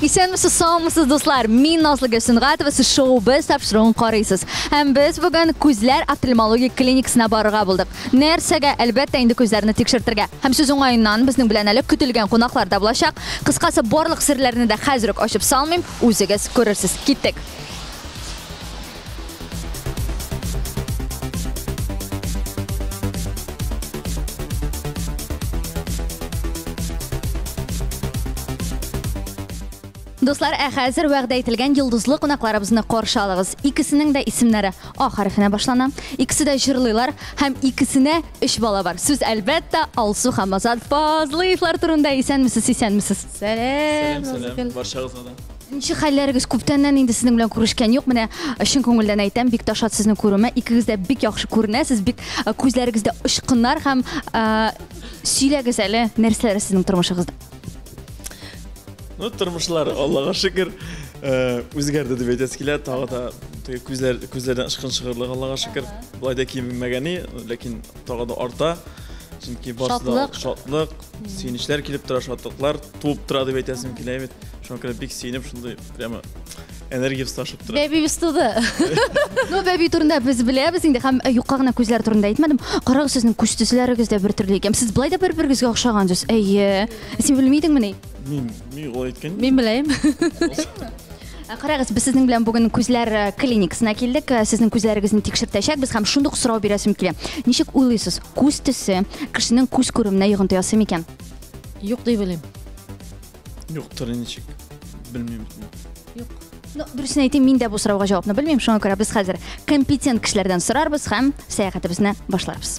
Исәнмесез, саумысыз, дуслар! Мин Назлы Гөлсенгатова, сез шоу без тапшыруын карыйсыз. Һәм без бүген күзләр офтальмологик клиникасына барырга булдык. Нәрсәгә? Әлбәттә, инде күзләрне тикшертергә. Һәм сүз уңаеннан, безнең белән әле көтелгән кунаклар да булачак. Кыскасы, барлык серләрне дә хәзер үк ачып салмыйм, үзегез күрерсез. Киттек! Дуслар, ә хәзер вәгъдә ителгән йолдызлы кунакларыбызны каршы алыгыз. Икесенең дә исемнәре А хәрефенә башлана. Икесе дә җырлыйлар һәм икесенә өч бала бар. Сүз әлбәттә Алсу һәм Азат Фазлыевлар турында. Исәнмесез, исәнмесез. Сәлам, Сәлам, Назгөл. сәлам, барчагызга да. Ничек хәлләрегез? Күптәннән инде сезнең белән күрешкән юк. Менә чын күңелдән әйтәм, бик та шат сезне күрүемә. Икегез дә бик яхшы күренәсез, бик э, күзләрегездә очкыннар һәм э, сөйләгез әле, нәрсәләр сезнең тормышыгызда? Ну, тормышлар, Аллага шөкер, э, үзгәрде дип әйтәсе килә. Тагы да теге күзләр күзләрдән ышкын чыгырлык, Аллага шөкер. Болай да кимемәгәни, ләкин тагы да арта. Чөнки барсы да Шатлык. шатлык, Сөенечләр килеп тора, шатлыклар туып тора дип әйтәсем килә бит. Шуңа күрә бик сөенеп, шундый прямо энергиябез ташып тора. Бәбиебез туды. Ну, бәби турында без беләбез инде һәм э, юкка гына күзләр турында әйтмәдем. Карагыз, сезнең күз төсләрегез дә бер төрле икән. Сез былай да бер-берегезгә охшагансыз. Әйе. Син белмидеңмени? Мин Мин ул әйткән. Мин беләем. Ә Карагыз, без сезнең белән бүген күзләр э, клиникасына килдек. Э, Сезнең күзләрегезне тикшертәчәкбез һәм шундый ук сорау бирәсем килә. Ничек уйлыйсыз, күз төсе кешенең күз күрүенә йогынты ясый микән? Юк дип белим. Юктыр ничек. Белмим. Ну, дөресен әйтим, мин дә бу сорауга җавапны белмим. Шуңа күрә без хәзер компетент кешеләрдән сорарбыз һәм сәяхәтебезне башларбыз.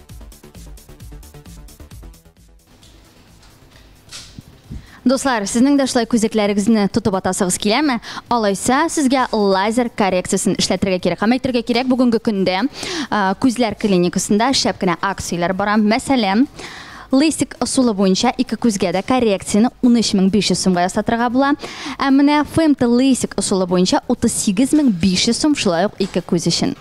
Дуслар, сезнең дә шулай күзәкләрегезне тотып атасыгыз киләме? Алайса, сезгә лазер коррекциясен эшләтергә кирәк. Һәм әйтергә кирәк, бүгенге көндә күзләр клиникасында шәп кенә акцияләр бара. Мәсәлән, лейсик ысулы буенча ике күзгә дә коррекцияне 13500 сумга ясатырга була. Ә менә ФМТ лейсик ысулы буенча 38500 сум шулай ук ике күз өчен.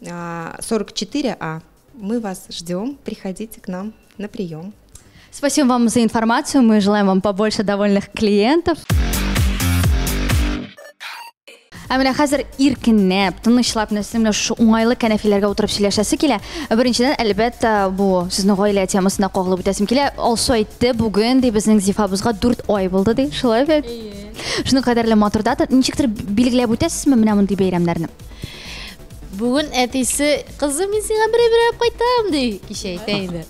44А. А. Мы вас ждем. Приходите к нам на прием. Спасибо вам за информацию. Мы желаем вам побольше довольных клиентов. Ә менә хәзер иркенләп, тынычлап, нәрсәмлә шушы уңайлы кәнәфиләргә утырып сөйләшәсе килә. Ә беренчедән, әлбәттә, бу сезнең гаилә темасына кагылып үтәсем килә. Алсу әйтте, бүген ди безнең Зифабызга 4 ай булды ди. Шулай бит? Шуның кадәрле матур дата. Ничектер билгеләп үтәсезме менә мондый бәйрәмнәрне? Бүген әтисе, кызым, мин сиңа берәй берәй кайтам, ди, кичә әйтә инде.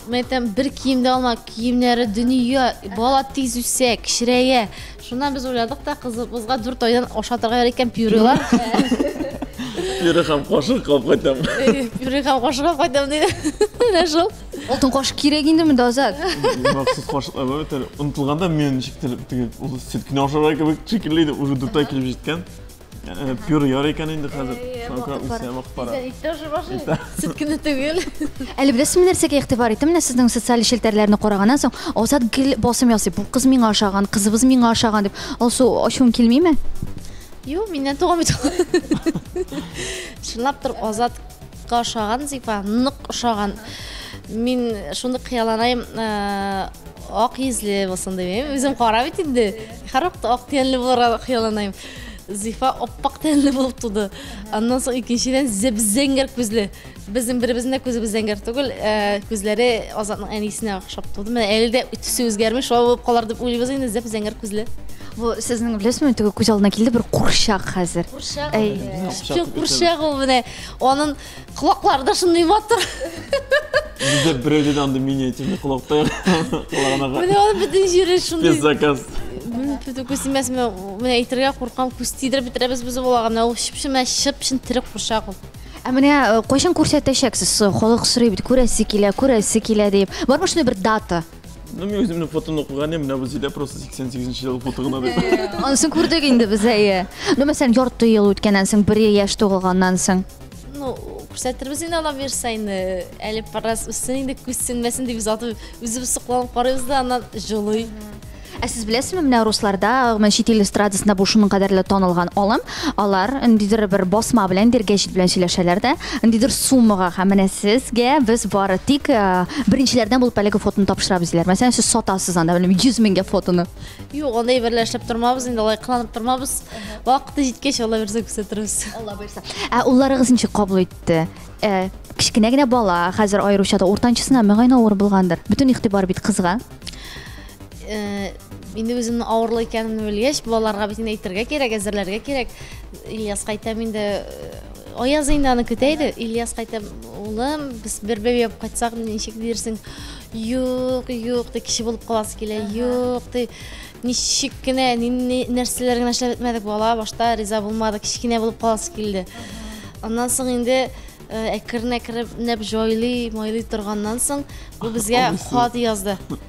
Мен әйтәм, бер кием дә алма, киемнәре дөнья, бала тиз үсә, кечерәя. Шуннан без уйладык та, кызыбызга дүрт айдан ашатырга ярый икән пюрелар. Пюре һәм кашык кылып кайтам. Пюре һәм кашык алып кайтам, ди. Менә шул. Алтын кашык кирәк инде монда азат. Махсус кашыклар бар бит әле. Онытылганда мен ничектер теге ул сетканы ашарга кебек шикелле иде, уже дүрт ай килеп җиткән. Э, пюр яр икән инде хәзер. Шуңа үсә вакыт бара. Тоже башы. Сөт кенә түгел. Әле беләсезме нәрсәгә игътибар иттем? Менә сезнең социаль челтәрләрне караганнан соң, Азат гел басым ясый. Бу кыз миңа ошаган, кызыбыз миңа ошаган дип. Алсу, ачуың килмиме? Юк, миннән туган бит. Чынлап торып Азатка ошаган Зифа, нык ошаган. Мин шундый кыяланайм, э, Ак йөзле булсын дип әйм. Үзем кара бит инде. Һәрвакыт ак тәнле булырга хыялланам. Зифа аппак тәнле булып туды. Аннан соң икенчедән зәп-зәңгәр күзле. Безнең беребезнең дә күзебез зәңгәр түгел. Э, күзләре Азатның әнисенә охшап туды. Менә әле дә төсе үзгәрми, шулай булып калар дип уйлыйбыз инде, зәп-зәңгәр күзле. Бу сезнең беләсезме, теге күз алдына килде бер курчак хәзер. Курчак. Әй. Кем курчак ул менә? Анын Колаклары да шундый матур. Бездә берәүдә дә андый миниатюрный колакта колагына. Менә аны бөтен җире шундый. Без заказ. Бөтен күз тимәс, мен менә әйтергә куркам, күз тидереп бетерәбез без балага. Менә ул чып-чын менә чып-чын тере курчак ул. Ә менә э, кайчан күрсәтәчәксез? Халык сорый бит, күрәсе килә, күрәсе килә дип. Бармы шундый бер дата? Ну, мин үземнең фотоны укыган идем, менә бу Зилә просто 88 нче ел фото гына дип. Анысын күрдек инде без әйе. Ну, мәсәлән, ярты ел үткәннән соң, бер яшь тугылганнан соң. Ну, күрсәтербез инде ала бирсә инде. Әле параз үссен инде, күз сүнмәсен дип без атып, үзебез сокланып карыйбыз да, аннан җылый. Ә сез беләсезме, менә русларда, гомумән чит ил эстрадасында бу шуның кадәрле танылган алым, алар ниндидер бер басма белән, ниндидер гәҗит белән сөйләшәләр дә, ниндидер суммага, һәм менә сезгә без бары тик э, беренчеләрдән булып әлеге фотоны тапшырабыз диләр. Мәсәлән, сез сатасыз анда, белмим, 100 меңгә фотоны. Юк, андый берлә эшләп тормабыз, инде алай кыланып тормабыз. Вакыты җиткәч, Алла бирсә күрсәтербез. Алла бирсә. Ә улларыгыз ничек кабул итте? Э, Кечкенә генә бала, хәзер аеруча да уртанчысына мөгаен авыр булгандыр. Бөтен игътибар бит кызга. Э, инде үземнең авырлы икәнемне белгәч балаларга бит инде әйтергә кирәк әзерләргә кирәк ильяс кайтам инде э, аяз инде аны көтә иде ильяс кайтам улым без бер бәби алып кайтсак ничек дирсең юк юк ди кеше булып каласы килә юк ди ничек кенә нәрсәләр генә эшләп бетмәдек бала башта риза булмады кечкенә булып каласы килде аннан соң инде э, әкрен әкренләп җайлый майлый торганнан соң бу безгә хат язды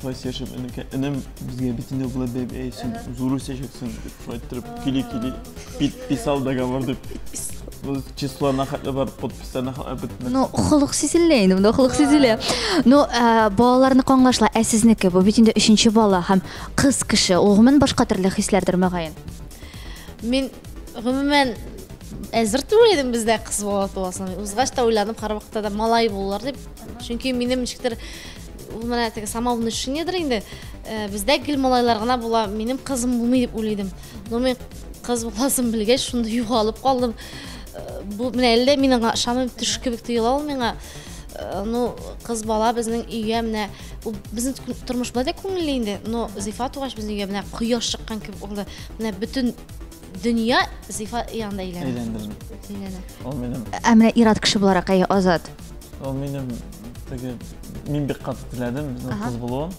шулай сөйләшеп энекә энем безгә бит инде болай бәй бәй син зур үсәчәксең дип шулай иттереп кили кили подписал договор дип ну числоны хәтле бар подписьларны хәтле бетмәс ну холык сизелә инде монда холык сизелә ну ә, балаларны каңлашла ә сезнеке бу бит инде өченче бала һәм кыз кеше ул гомумән башка төрле хисләрдер мөгаен мин гомумән әзер түгел идем бездә кыз бала туасына узгач та уйланып һәрвакытта да малай булыр дип чөнки минем ничектер Ул менә теге самовный шинедер инде. Э, бездә гел малайлар гына була. Минем кызым булмый дип уйлыйдым. Но мин кыз буласын белгәч, шунда югалып калдым. Э, бу менә әллә мин аңа ышанмыйм, төш кебек тоела ул миңа. Э, ну, кыз бала безнең өйгә менә ул безнең тормыш булай да күңелле инде. Но Зифа тугач безнең өйгә менә кояш чыккан кебек булды. Менә бөтен Дөнья зифа янында әйләнә. Әйләндем бит. Әйләнә. Ул минем. Ә менә ир-ат кеше буларак, әйе, Азат. Ул минем теге мин бик каты теләдем безнең кыз булуын.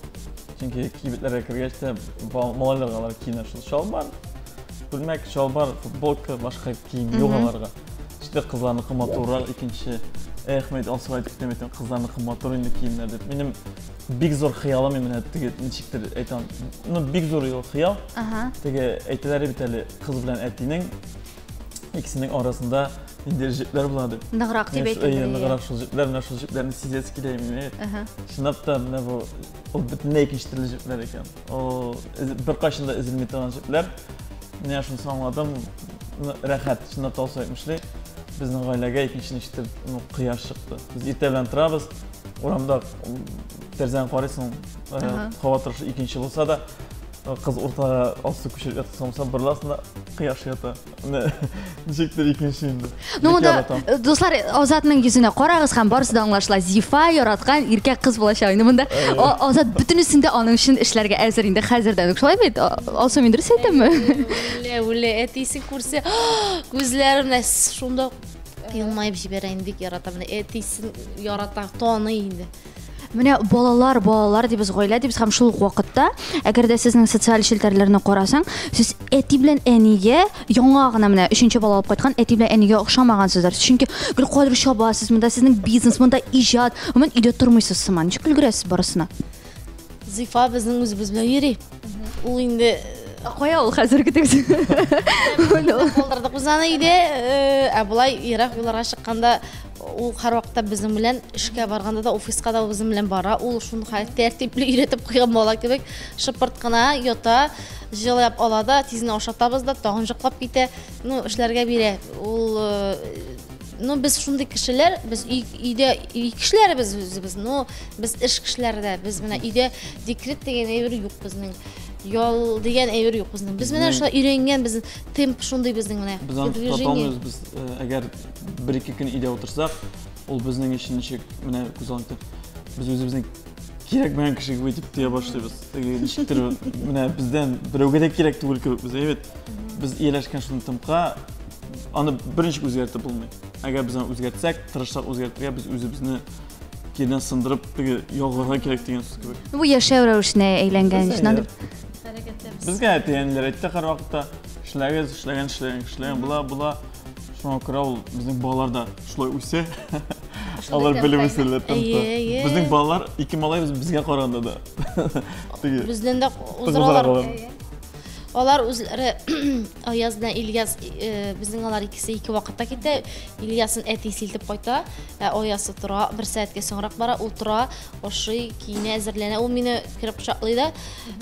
Чөнки кибетләргә кергәч тә малайларга алар киенә шул чалбар, күлмәк, чалбар, футболка, башка кием юк аларга. Ште кызларныкы матуррак икенче. Эх, мәйт алсу әйтеп кенә мәйтәм, кызларныкы матур инде киемнәр дип. Минем бик зур хыялым именно теге ничектер әйтәм ну бик зур ул хыял теге әйтәләр бит әле кыз белән әтинең икесенең арасында инде җепләр була дип ныграк дип әйтәләр ныграк шул җепләр менә шул җепләрне сизәсе килә именно чынлап та менә бу ул бөтенләй икенче төрле җепләр икән ул беркайчан да өзелми торган җепләр менә шуны аңладым рәхәт чынлап та алсу әйтмешли безнең гаиләгә икенче ничектер ну кояш чыкты без иртә белән торабыз Урамда тәрзәне карыйсың, һава торышы икенче булса да, кыз уртага алсу күчереп ятып салмаса барласында кояш ята ничектер икенче инде ну монда э, дуслар азатның йөзенә карагыз һәм барысы да аңлашыла зифа яраткан иркәк кыз булачак инде монда э. азат бөтенесен дә аның өчен эшләргә әзер инде хәзердән үк шулай бит алсу мин дөрес әйтәмме үлә үлә әтисе күрсә күзләренә шунда Елмаеп җибәрә инде, бик ярата. Менә әтисен ярата, таный инде. Менә балалар, балалар дибез, гаилә дибез һәм шул ук вакытта, әгәр дә сезнең социаль челтәрләрне карасаң, сез әти белән әнигә яңа гына менә өченче бала алып кайткан әти белән әнигә охшамагансыздар. Чөнки гел кадәр чабасыз, монда сезнең бизнес, монда иҗат, гомумән өйдә тормыйсыз сыман. Ничек өлгерәсез барысына? Зифа безнең үзебез белән йөри. Ул инде Ә кая ул хәзерге текст? Калдырдык без аны өйдә, э, ә болай ерак юлларга чыкканда ул һәрвакытта безнең белән эшкә барганда да офиска да безнең белән бара. Ул шуны хәтта тәртипле өйрәтеп куйган бала кебек шыпырт кына ята, җылап ала да, тизне ашатабыз да, тагын җоклап китә. Ну, эшләргә бирә. Ул э, Ну, без шундый кешеләр, без өйдә өй кешеләре без үзебез, но без эш кешеләре дә. Без менә өйдә декрет дигән әйбер юк безнең. Ял дигән әйбер юк безнең. Без менә шулай өйрәнгән, без темп шундый безнең менә. Без аны тота алмыйбыз, без э, әгәр бер-ике көн өйдә утырсак, ул безнең өчен ничек менә күз алдында без үзебезнең кирәкмәгән кеше кебек итеп тоя башлыйбыз. Теге ничектер менә бездән берәүгә дә кирәк түгел кебек без, әйбәт. Без ияләшкән шундый темпка, аны берничек үзгәртеп булмый. Әгәр без аны үзгәртсәк, тырышсак үзгәртергә, без үзебезне кирдән сындырып, теге ялгырга кирәк дигән сүз кебек. Бу яшәү рәвешенә әйләнгән өчен аны Безгә әти-әниләр әйтте һәрвакытта, эшләгез, эшләгән, эшләгән, эшләгән, була, була. Шуңа күрә ул безнең балалар да шулай үсә. Алар белеп үсәләр тәмтә. Безнең балалар ике малай безгә караганда да. Бездән дә узыралар. Алар үзләре Аяз белән Ильяс э, безнең алар икесе ике вакытта китә. Ильясын әти силтеп кайта, ә Аясы тора, бер сәгатькә соңрак бара, утыра, ашый, киенә, әзерләнә. Ул мине кереп кочаклый да,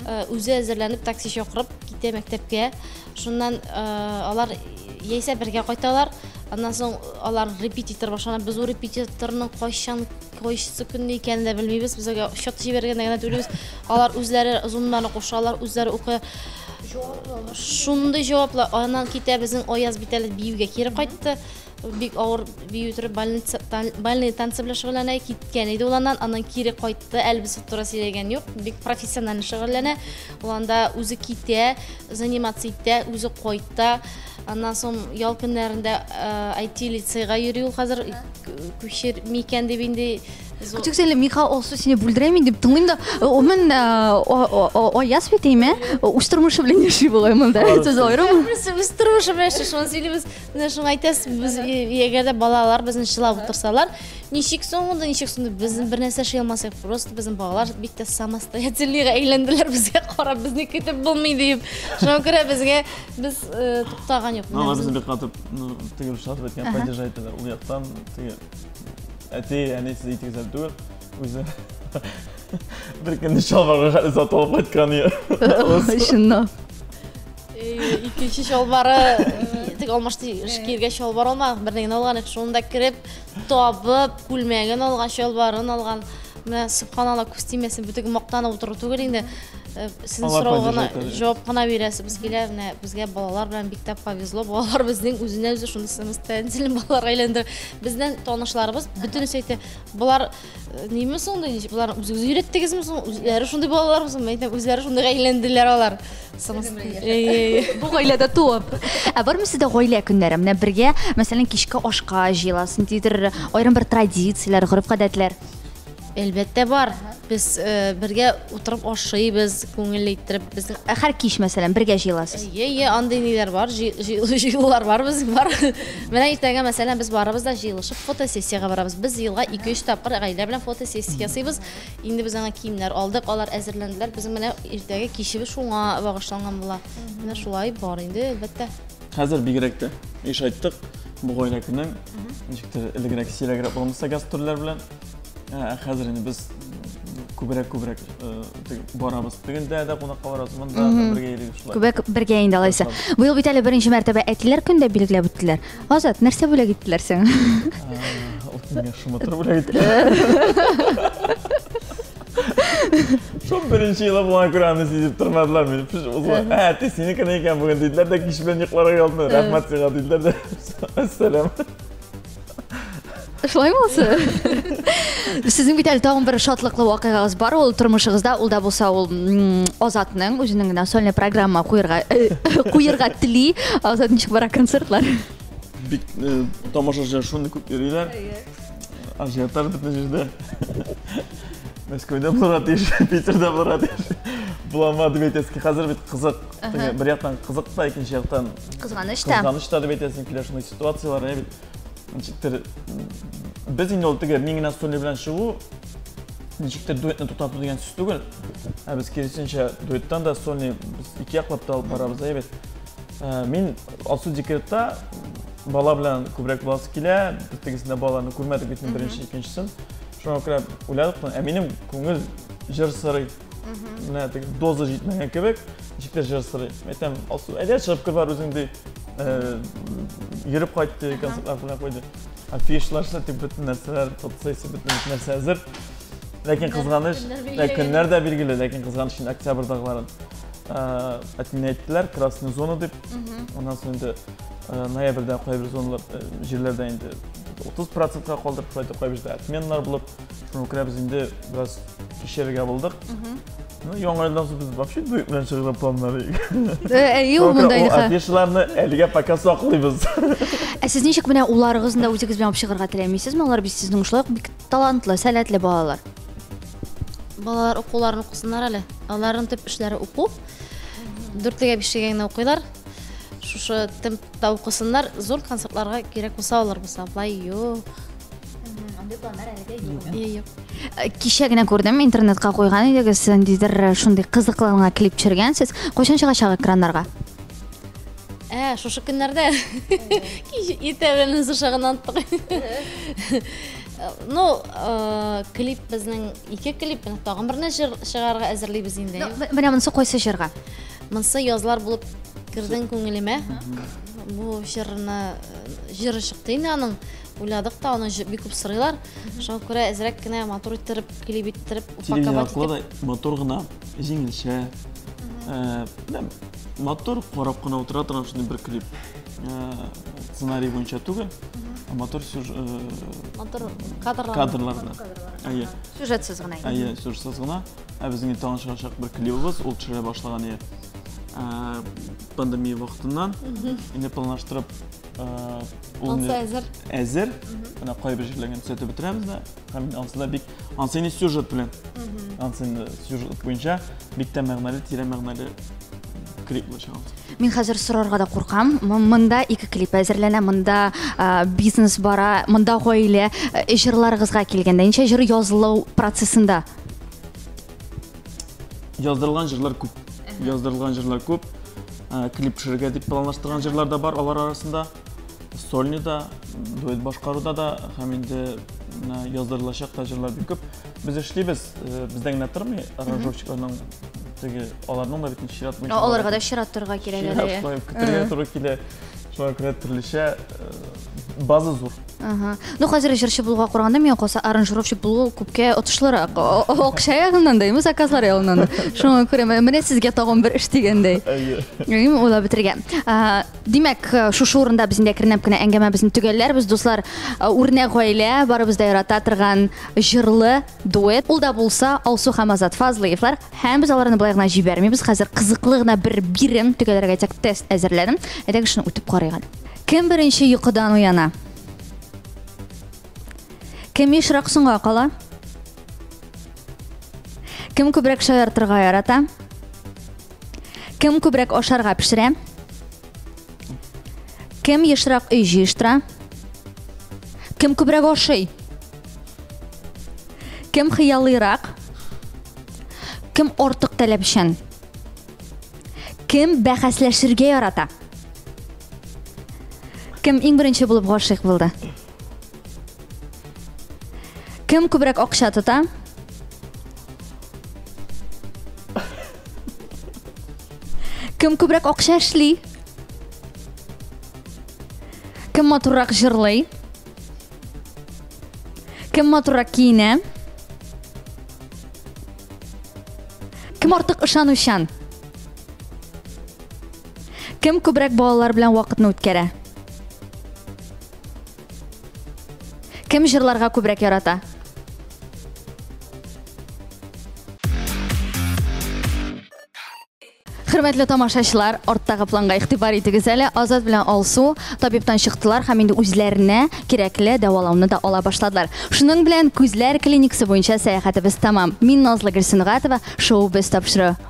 э, үзе әзерләнеп такси чакырып китә мәктәпкә. Шуннан э, алар яисә бергә кайталар. Аннан соң алар репетитор башлана. Без ул репетиторның кайчан Кайсы көнне икәнен дә белмибез. Без әгәр счет җибәргәндә генә түлибез. Алар үзләре зоннарны кушалар, үзләре укый. Шундый җаваплы. Аннан китә безнең Аяз бит әле биюгә кире кайтты. Бик авыр бию торып больница тан- больные танцы белән шөгыльләнә. Киткән иде ул аннан, аннан кире кайтты. Әле без туры сөйләгән юк. Бик профессионально шөгыльләнә. Ул анда үзе китә, заниматься итә, үзе кайта. Аннан соң ял көннәрендә IT лицейга йөри ул хәзер. күчер микән дип инде Күтүк сәле миха олсу сине бүлдерәми дип тыңлыйм да умен аяз бит әйме үз тормышы белән яши бугай монда сез аерым үз тормышы белән яши шуны сөйлибез менә шуны әйтәсез без егер дә балалар безне чылап утырсалар ничек соң монда ничек соң без бер нәрсә эшли алмасак просто безнең балалар бик тә самостоятельныйга әйләнделәр безгә карап безне көтеп булмый дип шуңа күрә безгә без туктаган юк безне бик каты Ну, теге русча да әйткән, падеж әйтәләр. Ул яктан теге әти, әни сез итегезәр түгел, үзе бер көнне чалбарга хәле сатылып кайткан иде. Чыннан. Икенче чалбары тек алмашты киргә чалбар алма, бернигә алган, шунда кереп, Табып, күлмәген алган, чалбарын алган. Менә субханалла күз тимәсен, бөтен мактанып утыру түгел инде. Э, Сезнең Алла сорауга гына поддержать итә. җавап кына бирәсебез килә. Менә безгә балалар белән бик тә повезло. Балалар безнең үзенә үзе шуны самостоятельно балалар әйләндерә. Безнең танышларыбыз бөтенесе әйтә, болар Неме соң да, болар үзегез өйрәттегезме соң? Үзләре шундый балалармы соң? Мәйтәм, үзләре шундый гаиләләнделәр алар. Бу гаиләдә туып. Ә бармы сездә гаилә көннәре? Менә бергә, мәсәлән, кичке ашка җыеласыз, ниндидер аерым бер традицияләр, гореф-гадәтләр. Әлбәттә бар. Без э, бергә утырып ашыйбыз, күңел иттереп без. Ә Һәр кич, мәсәлән, бергә җыеласыз. Йә, йә, андый ниләр бар, җыелулар бар безнең бар. Менә иртәгә, мәсәлән, без барыбыз да җыелышып фотосессиягә барабыз. Без елга 2-3 тапкыр гаилә белән фотосессия ясыйбыз. Инде без аңа киемнәр алдык, алар әзерләнделәр. Безнең менә иртәгә кичебез шуңа багышланган була. Менә шулай бар инде, әлбәттә. Хәзер бигрәк тә еш айттык, бу гаилә көне ничектер элегрәк, сирәгрәк булган булса гастрольләр белән. Ә, хәзер инде без күбрәк күбрәк э, барабыз тегендә дә кунакка барабыз монда бергә йөрибез шулай күбрәк бергә инде алайса быел бит әле беренче мәртәбә әтиләр көн дә билгеләп үттеләр азат нәрсә бүләк иттеләр сиңа шымытыр бүләк иттеләр Шо беренче елы була күрә аны сизеп тормадылар мені. Пиш узла. Ә, ти синеке не икән бүген диделәр дә кич белән йокларга ялдым. Рәхмәт сиңа диделәр дә. Әссәлам. Шулай булсы. Сезнең бит әле тагын бер шатлыклы вакыйгагыз бар ул тормышыгызда, ул да булса ул Азатның үзенең генә сольный программа куерга э, куерга тели. Азат ничек бара концертлар? Бик э, тамашачы шуны күп йөриләр. Ажиотаж бөтен җирдә. Мәскәүдә булырга тиеш, Питерда булырга тиеш. Буламады бит әзки. Хәзер бит кызык. Бер яктан кызык та, икенче яктан Кызганыч та. Кызганыч та дип әйтәсең килә шундый ситуацияләр, ә бит ничектер без инде ул теге мин генә стулья белән чыгу ничектер дуэтны туктату дигән сүз түгел. Ә без киресенчә дуэттан да сольный без ике яклап та алып барабыз, ә бит. Э, мин Алсу декретта бала белән күбрәк буласы килә, без тегесендә баланы күрмәдек бит беренче, икенчесен. Шуңа күрә уйладык, ә минем күңел җыр сырый. менә теге доза җитмәгән кебек ничек тә җырсырый әйтәм алсу әйдә чыгып кер бар үзең ди йөреп кайт ди концертлар белән куйды афишлар сатып бөтен нәрсәләр фотосессия бөтен нәрсә әзер ләкин кызганыч көннәр дә билгеле ләкин кызганыч инде октябрьдагыларын әтине әйттеләр красный зона дип аннан соң инде ноябрьдә кайбер зоналар җирләрдә инде отыз процентка калдырып кайбер җирдә отменалар булып Шуңа күрә без инде бераз кичерергә булдык. Ну, яңа елдан соң без вообще дуэт белән чыгарга планнар идек. Әйе, ул монда инде. Афишаларны әлегә пока саклыйбыз. Ә сез ничек менә уларыгызны да үзегез белән алып чыгарга теләмисезме? Алар бит сезнең шулай ук бик талантлы, сәләтле балалар. Балалар укуларын укысыннар әле. Аларның төп эшләре уку. Дүртлегә бишегә генә укыйлар шушы темпта укысыннар зур концертларга кирәк булса алар булса былай юк Э, кичә генә күрдем интернетка куйган идегез ниндидер э, шундый кызыклы гына клип төшергәнсез кайчан чыгачак экраннарга ә шушы көннәрдә кич иртәгенең зышыгын аттык ну э, клип безнең ике клип тагын берне җыр чыгарга әзерлибез инде менә монысы кайсы җырга монысы язлар булып кердең күңелемә бу җырны җыры чыкты инде аның уйладык та, аны бик күп сорыйлар. Шуңа күрә әзрәк кенә матур иттереп, клип иттереп, упаковать итеп. матур гына, җиңелчә. Э, матур карап кына утыра торган шундый бер клип. Э, сценарий буенча түгел, ә матур сюжет. Э, матур кадрлар. Кадрлар. Әйе. Сюжетсыз гына. Әйе, сюжетсыз гына. Ә безнең тагын чыгачак бер клибыбыз, ул төшерә башлаган иде. Пандемия вакытыннан, инде планлаштырып ул инде әзер. Әзер. Менә кайбер җирләргә төзәтеп бетерәбез дә. Һәм ансы да бик ансы инде сюжет белән. Ансы инде сюжет буенча бик тә мәгънәле, тирә мәгънәле клип булачак. Мин хәзер сорарга да куркам. Монда ике клип әзерләнә, монда бизнес бара, монда гаилә. Җырларыгызга килгәндә, ничә җыр язылу процессында? Яздырылган җырлар күп. Яздырылган җырлар күп. Ә, Клип төшерергә дип планлаштырган җырлар да бар алар арасында. Сольный да, дуэт башкаруда да һәм инде менә яздырылачак та җырлар бик күп. Без эшлибез, э, бездә генә тормый, аранжировщикларның теге аларның да бит ничек чират буенча. Аларга да чират торырга кирәк әле. Чират куеп көтергә туры килә. Шуңа күрә төрлечә э, база зур Ага. Ну, хәзер җырчы булуга караганда миңа калса аранжировщик булу күпкә отышлырак. Акча ягыннан да, заказлар ягыннан да. Шуңа күрә менә сезгә тагын бер эш дигәндәй. Әйе. Уйлап бетергән. Димәк, шушы урында без инде әкренләп кенә әңгәмәбезне төгәлләрбез, дуслар. Үрнәк гаилә, барыбыз да ярата торган җырлы дуэт. Ул да булса Алсу һәм Азат Фазлыевлар. Һәм без аларны былай гына җибәрмибез. Хәзер кызыклы гына бер бирем төгәлләргә тест әзерләдем. Әйдәгез шуны үтеп карыйк әле. Кем беренче йокыдан уяна? Кем ешрак соңга кала? Кем күбрәк шаяртырга ярата? Кем күбрәк ашарга пешерә? Кем ешрак өй җыештыра? Кем күбрәк ашый? Кем хыялыйрак? Кем артык таләпчән? Кем бәхәсләшергә ярата? Кем иң беренче булып гашыйк булды? Кем күбрәк акча тота? Кем күбрәк акча эшли? Кем матуррак җырлый? Кем матуррак киенә? Кем артык ышанучан? Кем күбрәк балалар белән вакытны үткәрә? Кем җырларга күбрәк ярата? Хөрмәтле тамашачылар, арттагы планга игътибар итегез әле. Азат белән Алсу табибтан чыктылар һәм инде үзләренә кирәкле дәвалауны да ала башладылар. Шуның белән күзләр клиникасы буенча сәяхәтебез тәмам. Мин Назлы Гөлсенгатова, шоу без тапшыру.